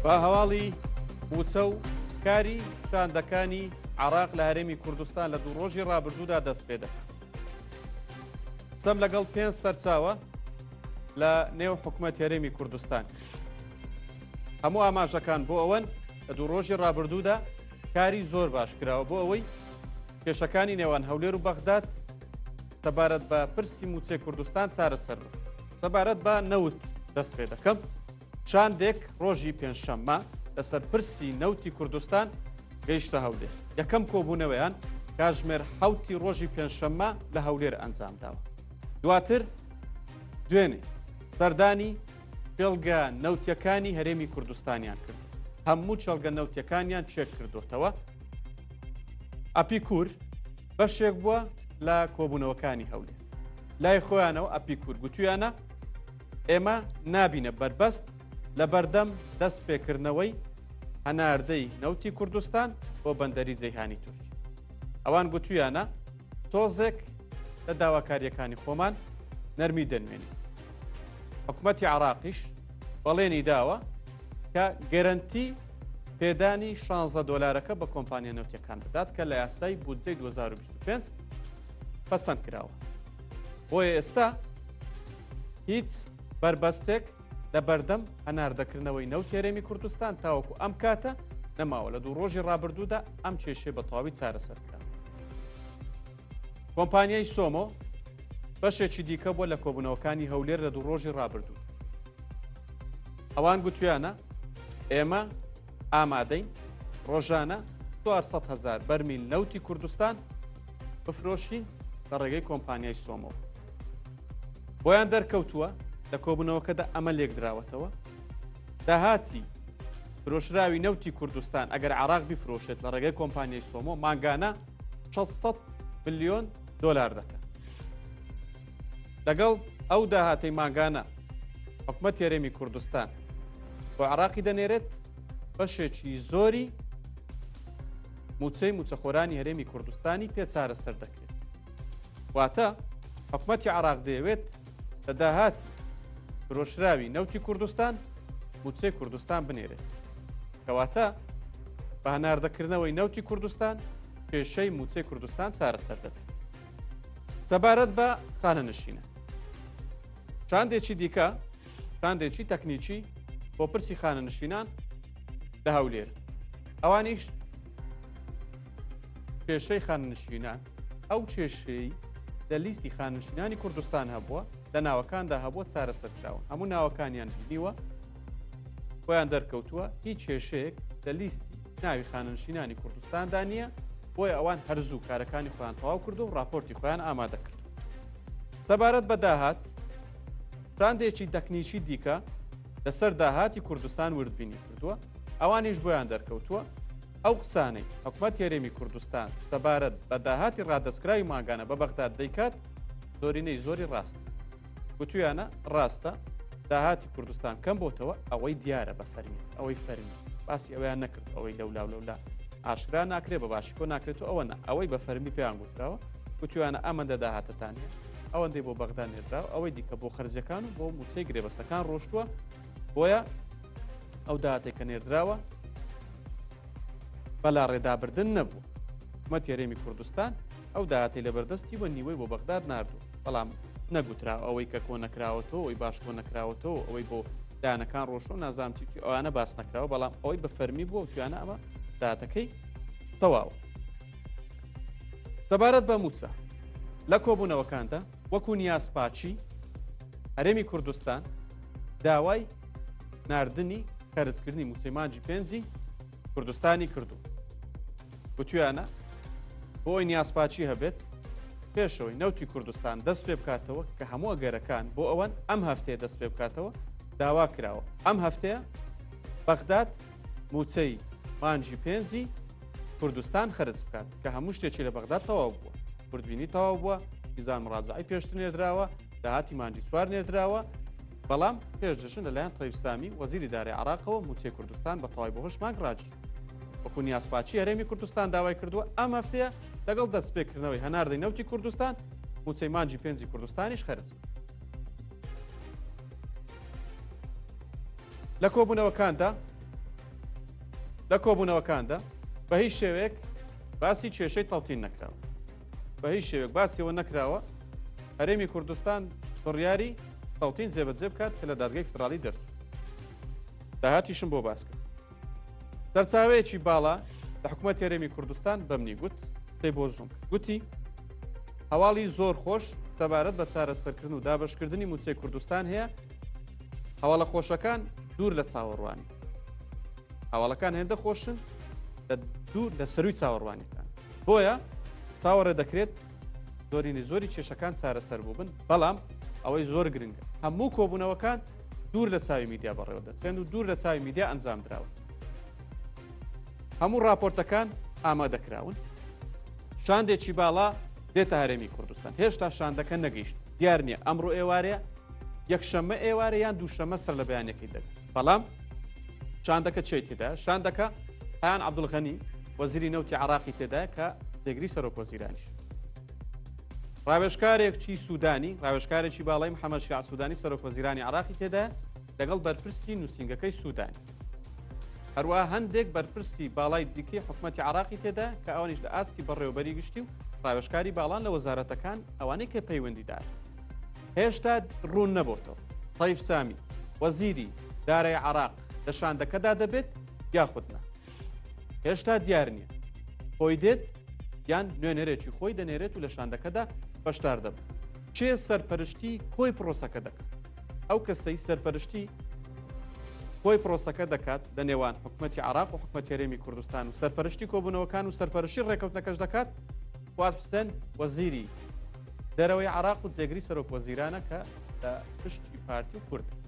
با هەواڵی مووچە و کاری شاندەکانی عراق لە هەرێمی کوردستان لە دوو ڕۆژی ڕابردوودا دەست پێ دەکات. سەم لەگەڵ پێنج سەرچاوە لە نێو حکومەت هەرێمی کوردستان. هەموو ئاماژەکان بۆ ئەوەن لە دوو ڕۆژی ڕابردوودا کاری زۆر باش کراوە بۆ ئەوەی کێشەکانی نێوان هەولێر و بەغداد سەبارەت بە پرسی موچێ کوردستان چارەسەر سەبارەت بە نەوت دەست پێ دەکەم. شاندێک ڕۆژی پێنجشەممە لەسەر پرسی نەوتی کوردستان گەیشتە هەولێر یەکەم کۆبوونەوەیان کاژمێر حوتی ڕۆژی پێنجشەممە لە هەولێر ئەنجام داوە دواتر دوێنێ بەردانی پێڵگە نەوتەکانی هەرێمی کوردستانیان کرد هەموو چێڵگە نەوتەکانیان چێک کردوتەوە ئەپیکور بەشێک بووە لە کۆبوونەوەکانی هەولێر لای خۆیانەوە ئەپیکور گوتویانە ئێمە نابینە بەربەست لە بەردەم دەست پێکردنەوەی هەناردەی نەوتی کوردستان بۆ بەندەری جەیهانی تورک ئەوان گوتویانە تۆزێک لە داواکاریەکانی خۆمان نەرمی دەنوێنی حکومەتی عراقیش بەڵێنی داوە کە گەرنتی پێدانی 16 دلارەکە بە کۆمپانیا نەوتەکان بدات کە لە یاسای بودجەی 2025 پسند کراوە بۆیە ئێستا هیچ بەربەستێک لە بەردەم هەناردەکردنەوەی نەوتی هەرێمی کوردستان تاوەکو ئەم کاتە نەماوە لە دوو ڕۆژی ڕابردوودا ئەم کێشێ بە تەواوی چارەسەرکرا. کۆمپانیای سۆمۆ بەشێکی دیکە بووە لە کۆبوونەوەکانی هەولێر لە دوو ڕۆژی ڕابردوو. ئەوان گوتویانە ئێمە ئامادەین ڕۆژانە 400 هزار بەرمیل نەوتی کوردستان بفرۆشین لە ڕێگەی کۆمپانیای سۆمۆ بۆیان دەرکەوتووە لە کۆبوونەوەکەدا ئەمە لێکدراوەتەوە داهاتی فرۆشراوی نەوتی کوردستان ئەگەر عراق بیفرۆشێت لە ڕێگەی کۆمپانیای سۆمۆ ماگانە 600 میلیۆن دلار دەکەن لەگەڵ ئەو داهاتی ماگانە حکومە تێرێمی کوردستان بۆ عراقی دەنێرێت بەشێکی زۆری موچەی موچەخۆرانی هەرێمی کوردستانی پێ چارەسەر دەکەن واتە حکومەتی عراق دەیەوێت لە داهات فرۆشراوی نەوتی کوردستان موچەی کوردستان بنێرێت کەواتە بە هەناردەکردنەوەی نەوتی کوردستان پێشەی موچەی کوردستان چارەسەر دەبێت سەبارەت بە خانە نشینە شاندێکی دیکە شاندێکی تەکنیکی بۆ پرسی خانەنشینان لە هەولێر ئەوانیش کێشەی خاننشینان ئەو کێشەی لە لیستی خاننشینانی کوردستان هەبووە لە ناوەکاندا هەبووە چارەسەرکراون هەموو ناوەکانیان بینیوە خۆیان دەرکەوتووە هیچ کێشەیەک لە لیستی ناوی خاننشینانی کوردستاندا نییە بۆیە ئەوان هەرزوو کارەکانی خۆیان تەواو کرد و راپۆرتی خۆیان ئامادە کرد سەبارەت بە داهات شاندێکی دەکنیکی دیکە لەسەر داهاتی کوردستان وردبینی کردووە ئەوانیش بۆیان دەرکەوتووە ئەو قسانەی حکومت تێرێمی کوردستان سەبارەت بە داهاتی ڕادستکراوی ماگانە بە بەغداد دەیکات زۆرینەی زۆری ڕاست گوتویانە ڕاستە داهاتی کوردستان کەم بۆتەوە ئەوەی دیارە بە فەرمی ئەوەی فەرمی باسی ئەویان نەکرد ئەوەی لەولا لەولا ئاشرا ناکرێ بە باشی کۆ ناکرێت و ئەوە ئەوەی بە فەرمی پێیان گوتراوە وتویانە ئەمەندە داهاتتان هەیە ئەوەندەی بۆ بەغدا نێدرا و ئەوەی دیکە بۆ خرجەکان و بۆ موچەی گرێبەستەکان ڕۆشتووە بۆیە ئەو دااتێک کە نێردراوە بەلا ڕێدابردن نەبوو حکومە تێرێمی کوردستان ئەو دااتی لە بەردەستی وە نیوەی بۆ بەغداد نردوو بەڵام نەگوترا ئەوەی کە کۆ نەکراوەتەوە ئەوی باش کۆ نەکراوەتەوە ئەوەی بۆ دانەکان ڕۆشن و نازام چیی ئەوانە باس نەکراوە بەڵام ئەوەی بە فەرمی بووە توانە ئەمە دااتەکەی تەواوە سەبارەت بە مووچە لە کۆبوونەوەکاندا وەکو نیاز پاچی هەرێمی کوردستان داوای نردنی خەرزکردنی مووچەی مانجی پێنجی کوردستانی کردو گوتویانە بۆی نیازپاچی هەبێت پێشەوەی نەوتی کوردستان دەست پێ بکاتەوە کە هەموو ئەگەرەکان بۆ ئەوەن ئەم هەفتەیە دەست پێ بکاتەوە داوا کراوە ئەم هەفتەیە بەغداد موچەی مانجی پێنجی کوردستان خرج بکات کە هەموو شتێکی لە بەغدا تەواو بووە بردبینی تەواو بووە میزان مڕازعی پێشتر نێردراوە داهاتی مانجی چوار نێردراوە بەڵام پێشدەشن لەلایەن تەیفسامی وەزیری دارێ عراقەوە موچەی کوردستان بە تەوای بەهۆش مانگ ڕاجی وەکو نیازپاچی هەرێمی کوردستان داوای کردووە ئەم هەفتەیە لەگەڵ دەستپێکردنەوەی هەناردەی نەوتی کوردستان موچەی مانجی پێنجی کوردستانیش خرج لە کۆبوونەوەکاندا لە کۆبوونەوەکاندا بە هیچ شێوەیەک باسی کێشەی تەڵتین نەکراوە بە هیچ شێوێک باسیەوە نەکراوە هەرێمی کوردستان بڕیاری تەڵتین جێبەجێ بکات کە لە دادگەی فدرالی دەرچوو داهاتیشم بۆ باس کرد سەرچاوەیەکی باڵا لە حکوومەت تێرێمی کوردستان بەمنی گوت پێی بۆ ژوون گوتی هەواڵی زۆر خۆش سەبارەت بە چارەسەرکردن و دابشکردنی موچەی کوردستان هەیە هەواڵە خۆشەکان دوور لە چاوەڕوانی هەواڵەکان هێندە خۆشن لە دوور لە سەروی چاوەڕوانیەکان بۆیە چاوەڕێ دەکرێت زۆرینی زۆری کێشەکان چارەسەر بوو بن بەڵام ئەوەی زۆر گرنگە هەموو کۆبوونەوەکان دوور لە چاوی میدیا بەڕێوە دەچێن و دوور لە چاوی میدیا ئەنجام دراون هەموو راپۆرتەکان ئامادەکراون شاندێکی باڵا دێتە هەرێمی کوردستان هێشتا شاندەکە نەگەیشت دیار نییە ئەمڕۆ ئێوارەیە یەکشەممە ئێوارە یان دووشەمە سەر لە بەیانەکەی دەبێت بەڵام شاندەکە چی تێدا شاندەکە هەیان عبدولغەنی وەزیری نەوتی عراقی تێدا کە جێگری سەرۆک وەزیرانیش ڕاوێژکارێک چی سوودانی ڕاوێژکارێکی باڵی محەممەد شع سوودانی سەرۆکۆزیرانی عراقی تێدا لەگەڵ بەرپرسی نووسنگەکەی سوودان. هەروە هەندێک بەرپرسی باڵای دیکەی حکوومەتتی عراقی تێدا کە ئەوانیش لە ئاستی بەڕێوبەری گشتی و ڕاوێژکاری باڵان لە وەزارەتەکان ئەوانەی کە پەیوەندیدار. هێشتا ڕوون نەبووتەوە. تایف سامی وەزیری دارای عراق لە شاندەکەدا دەبێت یاخودنا. هێشتا دیار نییە خۆی دێت یان نوێنەرێکی خۆی دەنێرێت و لە شاندەکەدا بەشدار دەبن چێ سەرپەرشتی کۆی پرۆسەکە دەکەن ئەو کەسەی سەرپەرشتی کۆی پرۆسەکە دەکات لە نێوان حکوومەتتی عراق و حکومەتێرێمی کوردستان و سەرپەرشتی کۆبوونەوەکان و سەرپەرشی ڕێکەوتنەکەش دەکات خوات حسێن وەزیری دەرەوەی عراق و جێگری سەرۆک وەزیرانە کە لە پشتی پارتی کورد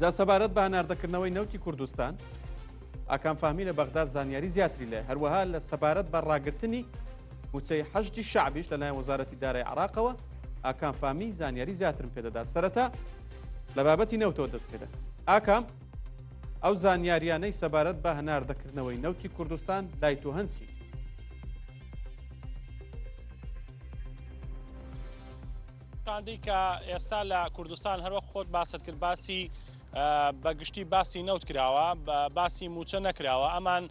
جا سەبارەت بە هەناردەکردنەوەی نەوتی کوردستان ئاکان فامی لە بەغدا زانیاری زیاتری لە هەروەها لە سەبارەت بە ڕاگررتنی موچەی حەشتی شعبیش لە لایەن وەزارەتی دارای عراقەوە ئاکان فامی زانیاری زیاترم پێدەدات سەرەتا لە بابەتی نەوتەوە دەست پێدا ئاکام ئەو زانیاریانەی سەبارەت بە هەناردەکردنەوەی نەوتی کوردستان لای تۆ هەنچی شاندی کە ئێستا لە کوردستان هەروەک خۆت باست کرد باسی بەگشتی باسی نەوت کراوە باسی موچە نەکراوە ئەمان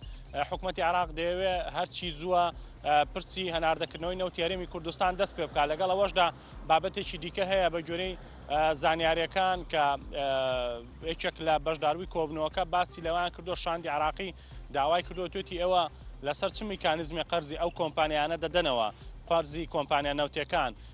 حکوومەتتی عراق دەیەوێ هەرچی زووە پرسی هەناردەکردنەوەی نەوتێرەمی کوردستان دەست پێ بکە لەگەڵ ئەوەشدا بابەتێکی دیکە هەیە بە گوێرەی زانیارەکان کە یەکێک لە بەشداروی کۆبنەوەکە باسی لەوان کردو شاندی عراقی داوای کردو توێتی ئێوە لەسەر چ میکانزمی قەرزی ئەو کۆمپانیانە دەدەنەوە قەرزی کۆمپانیا نەوتەکان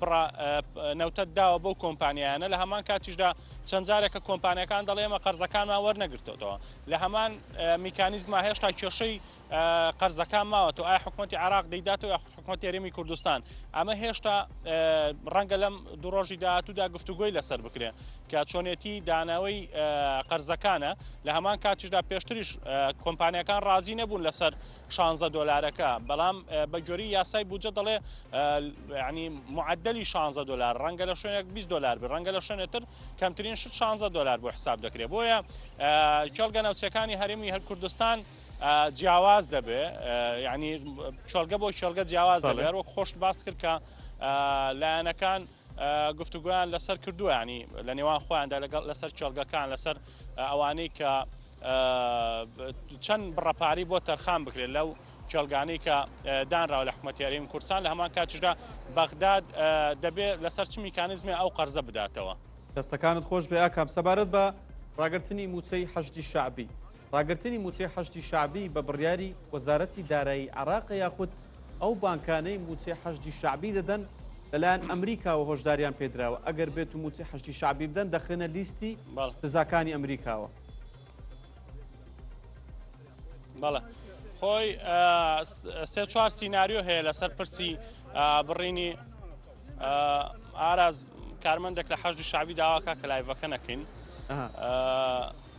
بڕە نەوتەت داوە بەو کۆمپانیایانە لە هەمان کاتیشدا چەند جارێکە کۆمپانیەکان دەڵێ ئێمە قەرزەکانمان وەرنەگرتوەوە لە هەمان میکانیزما هێشتا کێشەی قەرزەکان ماوە تو ئای حکوومەتتی عراق دەیدات و یاخود حکوومەت تێرەمی کوردستان ئەمە هێشتا ڕەنگە لەم دوو ڕۆژی داهاتوودا گفتوگوۆی لەسەر بکرێ کە چۆنێتی داناوی قەرزەکانە لە هەمان کاتیشدا پێشتریش کۆمپانیەکان ڕازی نەبوون لەسەر شانزە دۆلارەکە بەڵام بە گوێری یاسای بودجە دەڵێ ینی معدلی شانزە دلار ڕەنگە لە شوێنێک 20 دلار بی ڕەنگە لە شوێنێتر کەمترین شت شانزە دلار بۆ حساب دەکرێت بۆیە کێڵگە ناوچەکانی هەرمی هەر کوردستان جیاواز دەبێ ینی چۆلگە بۆ شێلگە جیاواز دەبێت وەک خۆشت باس کرد کە لایەنەکان گفتوگۆیان لەسەر کردووە ینی لە نێوان خۆیاندا لەگەڵ لەسەر کێڵگەکان لەسەر ئەوانەی کە چەند بڕەپاری بۆ تەرخان بکرێت لەو کێڵگانی کە دانراوە لە حکوومەتیاریم کورسان لە هەمان کاتیشدا بەغداد دەبێت لەسەر چ میکانزمی ئەو قەرزە بداتەوە دەستەکانت خۆش بێ ئاکام سەبارەت بە ڕاگررتنی موچەی حەشتی شعبی ڕاگرتنی مووچەی حەشدی شەعبی بە بڕیاری وەزارەتی دارایی عێراقە یاخود ئەو بانکانەی مووچەی حەشدی شەعبی دەدەن لەلایەن ئەمریکاوە هۆشداریان پێدراوە ئەگەر بێت و مووچەی حەشدی شەعبی بدەن دەخرێنە لیستی سزاکانی ئەمریکاوە بەڵێ خۆی سێ چوار سینناریۆ هەیە لەسەر پرسی بڕینی ئاراز کارمەندێک لە حەشدی شعبی داواکە کە لایڤەکە نەکەین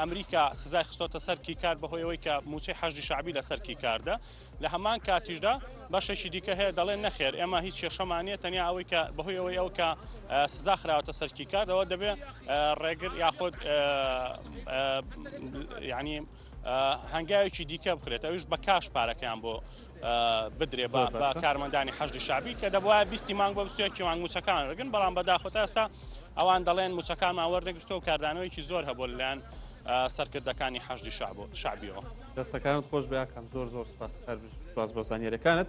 ئەمریکا سزای خستۆتە سەر کیکار بەهۆی ئەوەی کە موچەی حەشدی شعبی لەسەر کیکاردە لە هەمان کاتیشدا بەشێکی دیکە هەیە دەڵێن نەخێر ئێمە هیچ کێشەمانە تەنیا ئەوەی کە بەهۆی ئەوەی ئەو کە سزا خراوەتە سەر کیکاردەوە دەبێت ڕێگر یاخود ینی هەنگاوێکی دیکە بکرێت ئەوش بە کاش پارەکەیان بۆ بدرێ بە کارمەندانی حەشدی شعبی کە دەبواە بیستی مانگ بە بستێکی مانگ موچەکان رگن بەڵام بەداخۆ تا ئێستا ئەوان دەڵێن موچەکانمان وەرنەگرتەوە کاردانەوەیکی زۆر هەبوو لەلایەن سەرکردەکانی حەشدی شعب و شعبیەوە دەستەکانت خۆش بەکەم زۆر زۆر سپاس هەر باز بۆ زانانیەکانت